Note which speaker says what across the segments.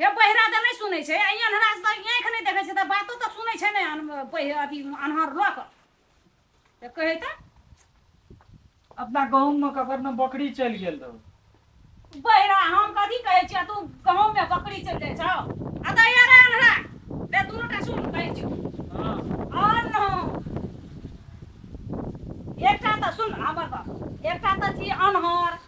Speaker 1: हे पहिरा तऽ नहि सुनै छै अइ अन्हरा से तऽ आँखि नहि देखै छै तऽ बातो तऽ सुनै छै ने अन- पहि अथी अन्हर लऽ कऽ तऽ कहै तऽ
Speaker 2: अपना गहूँम मे ककर ने बकरी चलि गेल रहौ बहिरा
Speaker 1: हम कथी कहै छियै तू गहूँम मे बकरी चलि जाइ छौ आ तऽ यार अन्हरा रे दुनू टा सुन कहै छियौ हँ
Speaker 2: और
Speaker 1: न एकटा तऽ सुन हमर बात एकटा तऽ छी अन्हर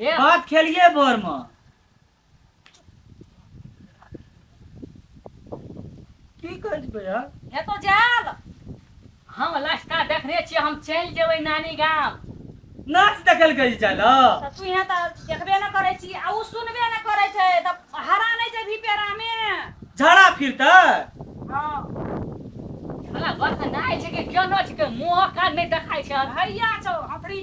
Speaker 3: भात खेलियै
Speaker 2: भोर मे की कहै छै
Speaker 1: भैया हेतौ
Speaker 3: जायल हम लस्ता देखने छियै हम चलि जेबै नानी गाम नाच
Speaker 2: देखल कहै छै जायल तऽ तू यहाँ तऽ
Speaker 1: देखबे ने करै छी आ ओ सुनबे ने करै छै तऽ हरा नहि छै भीपेरामे झड़ा
Speaker 2: फिरतै
Speaker 3: हँ भला बस नहि छै कि केना छै कि मुँह कान नहि देखाइ छै भैया छौ हथरी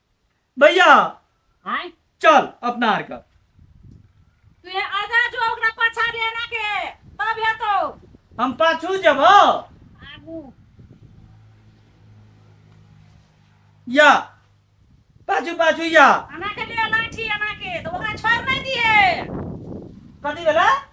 Speaker 2: भैया आय
Speaker 3: चल अपना
Speaker 2: आर के
Speaker 1: तू ये आगा जो ओकरा पाछा दे ना के तब हेतो हम पाछू
Speaker 2: जब आगू या पाछू पाछू या आना के लिए लाठी
Speaker 1: आना के तो ओकरा छोड़ नहीं दिए कथी
Speaker 2: भेला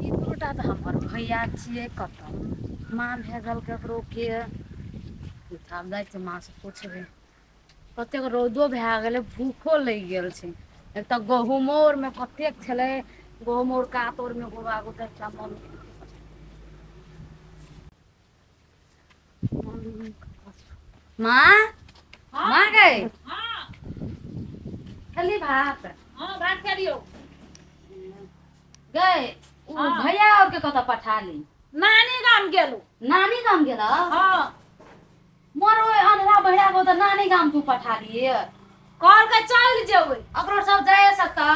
Speaker 4: ई दुनूटा तऽ हमर भैया छियै कतहु माँ भए गेल ककरो के आब जाइ छियै माँ सँ पुछबै कतेक रौदो भए गेलै भूखो लगि गेल छै एक तऽ गहुंमो आर मे कतेक छलै गहुंम आर कात आर मे माँ माँ गै खेलही भात हँ भात
Speaker 1: खेलियौ
Speaker 4: गै ओ भैया आर के कतऽ
Speaker 1: पठा
Speaker 4: ली नानी गाम
Speaker 1: गेलहुँ नानी गाम गेलऽ
Speaker 4: हँ मर ओहि अन्हरा बहिरा को तऽ नानी गाम तू पठा दिय कहल के
Speaker 1: चलि जेबै ओकरो सब जाय
Speaker 4: सकता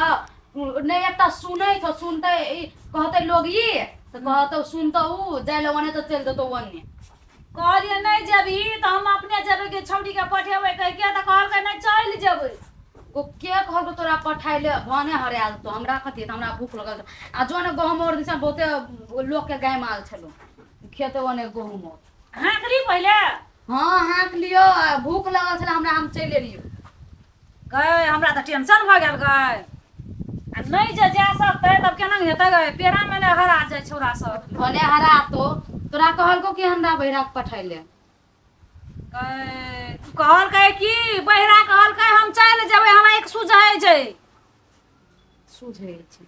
Speaker 4: नहि एकटा सुनै छौ सुनते ई कहते लोग ई तऽ कहतौ सुनतौ ऊ जाय लए ओने तऽ चलि देतौ ओने कहलियै
Speaker 1: नहि जेबही तऽ हम अपने जेबै कि छौड़ीके पठेबै कहिके तऽ कहलकै नहि चलि जेबै ओ के
Speaker 4: कहलको तोरा पठाय ले भने हरायल तो हमरा कथी तऽ हमरा भूख लगल छौ। आ जो ने गहूम और दिसन बहुते लोकके गाय माल छलो खेते ओने गहूम और हाँक ली पहिले
Speaker 1: हँ हाँक
Speaker 4: लियौ आ भूख लगल छलै हमरा हम चलि एलियौ गए
Speaker 1: हमरा तऽ टेंशन भऽ गेल गए आ नहि जे जा सकतै तब केना हेतै गए पेड़ा मे ने हरा जाइ छौड़ा सब भले हरा तो
Speaker 4: तोरा कहलको कि हमरा बहिरा के पठाय ले गए
Speaker 1: तू कहलकै कि बहिरा कहलकै हम चलि जेबै हमरा एक सुझै छै
Speaker 4: सुझै छै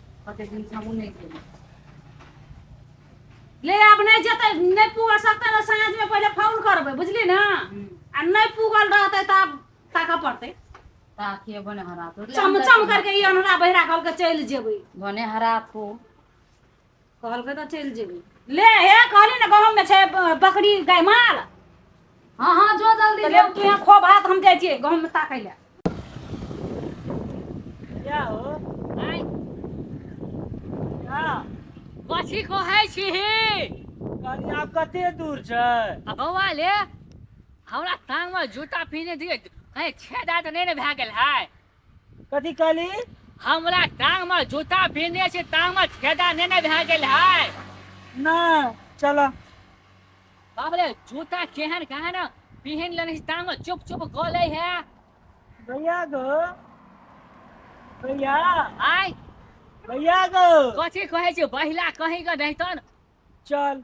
Speaker 1: कते दिन सँ हमहूँ नहि गेलियै ले आब नहि जेतै नहि पूगल सकतै ने साँझमे पहिले फोन करबै बुझली ने आ नहि पूगल रहतै तऽ आब ताकऽ पड़तै ताकिए
Speaker 4: बने हरा तो चम चम करके ई
Speaker 1: अनहरा बहिरा कहलके चलि जेबै बने हरा तो कहलकै तऽ चलि जेबै ले हे कहली ने गहूँम मे छै बकरी गाय माल हँ
Speaker 4: हँ जो जल्दी ले तू यहाँ खो
Speaker 1: भात हम जाइ छियै गहूँम मे ताकै लए क्या
Speaker 2: हो आँय क्या कथी
Speaker 3: कहै छीही कहली
Speaker 2: आब कते दूर छै आ बौआ ले
Speaker 3: हमरा टांग मे जूता पीने दियै कहीं छेदा तऽ नहि ने भए गेल है कथी
Speaker 2: कहली हमरा
Speaker 3: टांग मे जूता पिन्हने छी टांग मे छेदा नहि ने भए गेल है नहि
Speaker 2: चलऽ
Speaker 3: बाप रे जूता केहन केहन पिन्ह लेने छी टांग मे चुप चुप गलै है भैया
Speaker 2: गो भैया आय
Speaker 3: भैया
Speaker 2: गो कथी कहै छै
Speaker 3: बहिला कहीं के रहितन चल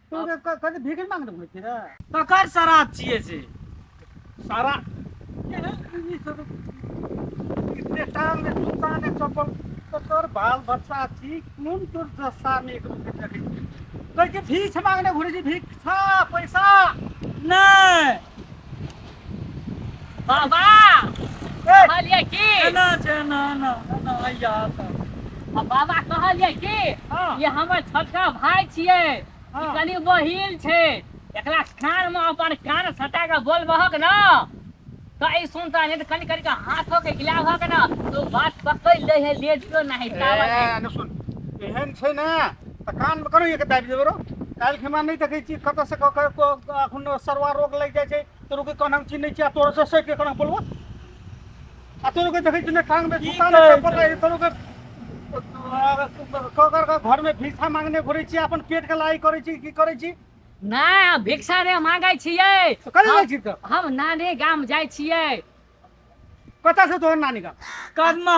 Speaker 5: तू जे क- कथी भिखी मांगने घुमै छी रे ककर शराब
Speaker 2: छियै से सारा
Speaker 5: केहन ई सब इतने टाल में दुकान है चप्पल तोर बाल बच्चा छी कोन तोर दशा में एक रूप देखै छी कहै छी भीख मांगने घुरै छी भीख छा पैसा नहि
Speaker 3: बाबा
Speaker 2: कहलियै की एना छै
Speaker 3: एना एना
Speaker 2: एना हैया एतऽ आ
Speaker 3: बाबा कहलियै कि हँ ई हमर
Speaker 2: छोटका
Speaker 3: भाय छियै हँ ई कनि
Speaker 2: बहीन
Speaker 3: छै एकरा कान मे अपन कान सटा कऽ बोलबहक न तऽ ई सुनता नै तऽ कनि कनि क हाथो के हिलाबहक न त ओ बात पकैड़ लै है लेडियो नाहि ताबत ए एने
Speaker 5: सुन एहन छै ने तऽ कानमे करू एक दाबि देबै रौ काल्हि खेमा नहि देखै छी कतऽसँ कऽ कऽ एखन सरवा रोग लागि जाइ छै तोर के कहना हम चिन्है छियै आ तोर से सटि कहना बोलबो आ तोर के देखै छी ने कानमे झुका नहि चप्पल रहै तोर के ककर के घरमे भिक्षा मांगने घुरै छी अपन पेटके लड़ाइ करै छी की करै छी नहि हम
Speaker 3: भिक्षा रे मांगै छियै तऽ कतऽ जाइ छी तऽ
Speaker 5: हम नानी गाम
Speaker 3: जाइ छियै
Speaker 5: कतऽ से तोहर नानी गाम कदमा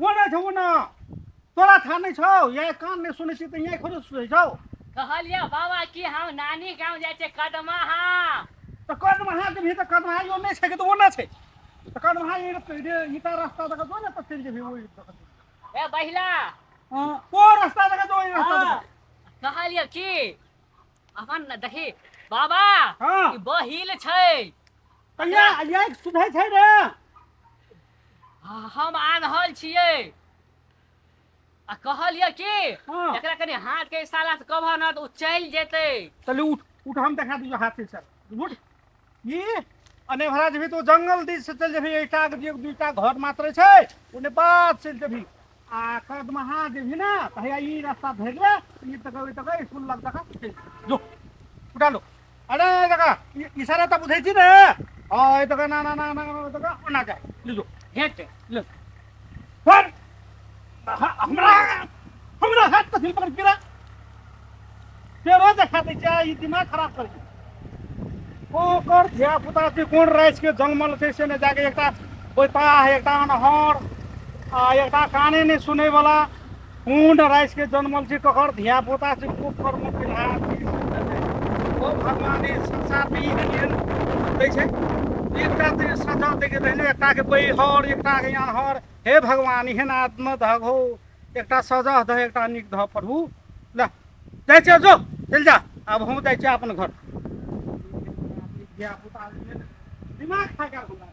Speaker 5: ओ नहि छौ ने तोरा था नहि छौ या कान नहि सुनै छी तऽ यहाँ खोजो सुनै छौ कहलियै बाबा
Speaker 3: कि हम नानी गाँव जाइ छै कदमा हा तऽ कदमा
Speaker 5: हा के भी तऽ कदमा हा यो नहि छै कि तऽ ओ नहि छै तऽ कदमा हा ई ता रास्ता दऽ कऽ जो ने तऽ चलि जेबही ओहि ए
Speaker 3: बहिला ओ
Speaker 5: रास्ता दऽ कऽ जो ओहि रास्ता दऽ कऽ कहलियै कि
Speaker 3: अहन न दही बाबा हाँ ई
Speaker 5: बहिल छै
Speaker 3: कहिया
Speaker 5: आइया एक सुनै छै रे
Speaker 3: हम आन्हल छियै आ कहलियै कि हाँ एकरा कनि
Speaker 5: हाथ के
Speaker 3: इशारा से कहबह न तऽ ओ चलि जेतै चलू उठ उठ
Speaker 5: हम देखा दियो हाथ से चल उठ ई अने भरा जेबही तो जंगल दिस से चल जेबही एकटा के एक दूटा घर मात्र छै ओने बात चल जेबही आ कदमहा जेबही ना त हैया ई रास्ता धरि ले ई तक ओइ तक स्कूल लग तक चल जेबही। जो उठा लो अरे जका इशारा त बुझै छी ने हां ए तक ना ना ना ना ना तक ओना जा ले जो हेट ले सर हमरा हमरा हाथ पर हिल पकड़ गिरा तेरा देखा दे क्या ये दिमाग खराब कर दिया ओ कर धिया पुता के कोन राइस के जंगमल कैसे ने जाके एकटा ओइता है एकटा अनहर आ एकटा काने ने सुने वाला मूड राखि कऽ जनमल छी ककर धिया पुता छी खूब कर्म केलहा ओ भगवान ई संसारमे ई एहन दै छै एकटा तऽ सजा दै के रहलै एकटाके बैहर एकटाके अनहर हे भगवान एहन आत्म धग हो एकटा सजा दह एकटा नीक धऽ प्रभु लए जाइ छियै जो चलि जा आब हम जाइ छियै अपन घर धिया पुता दिमाग खा गेल हमरा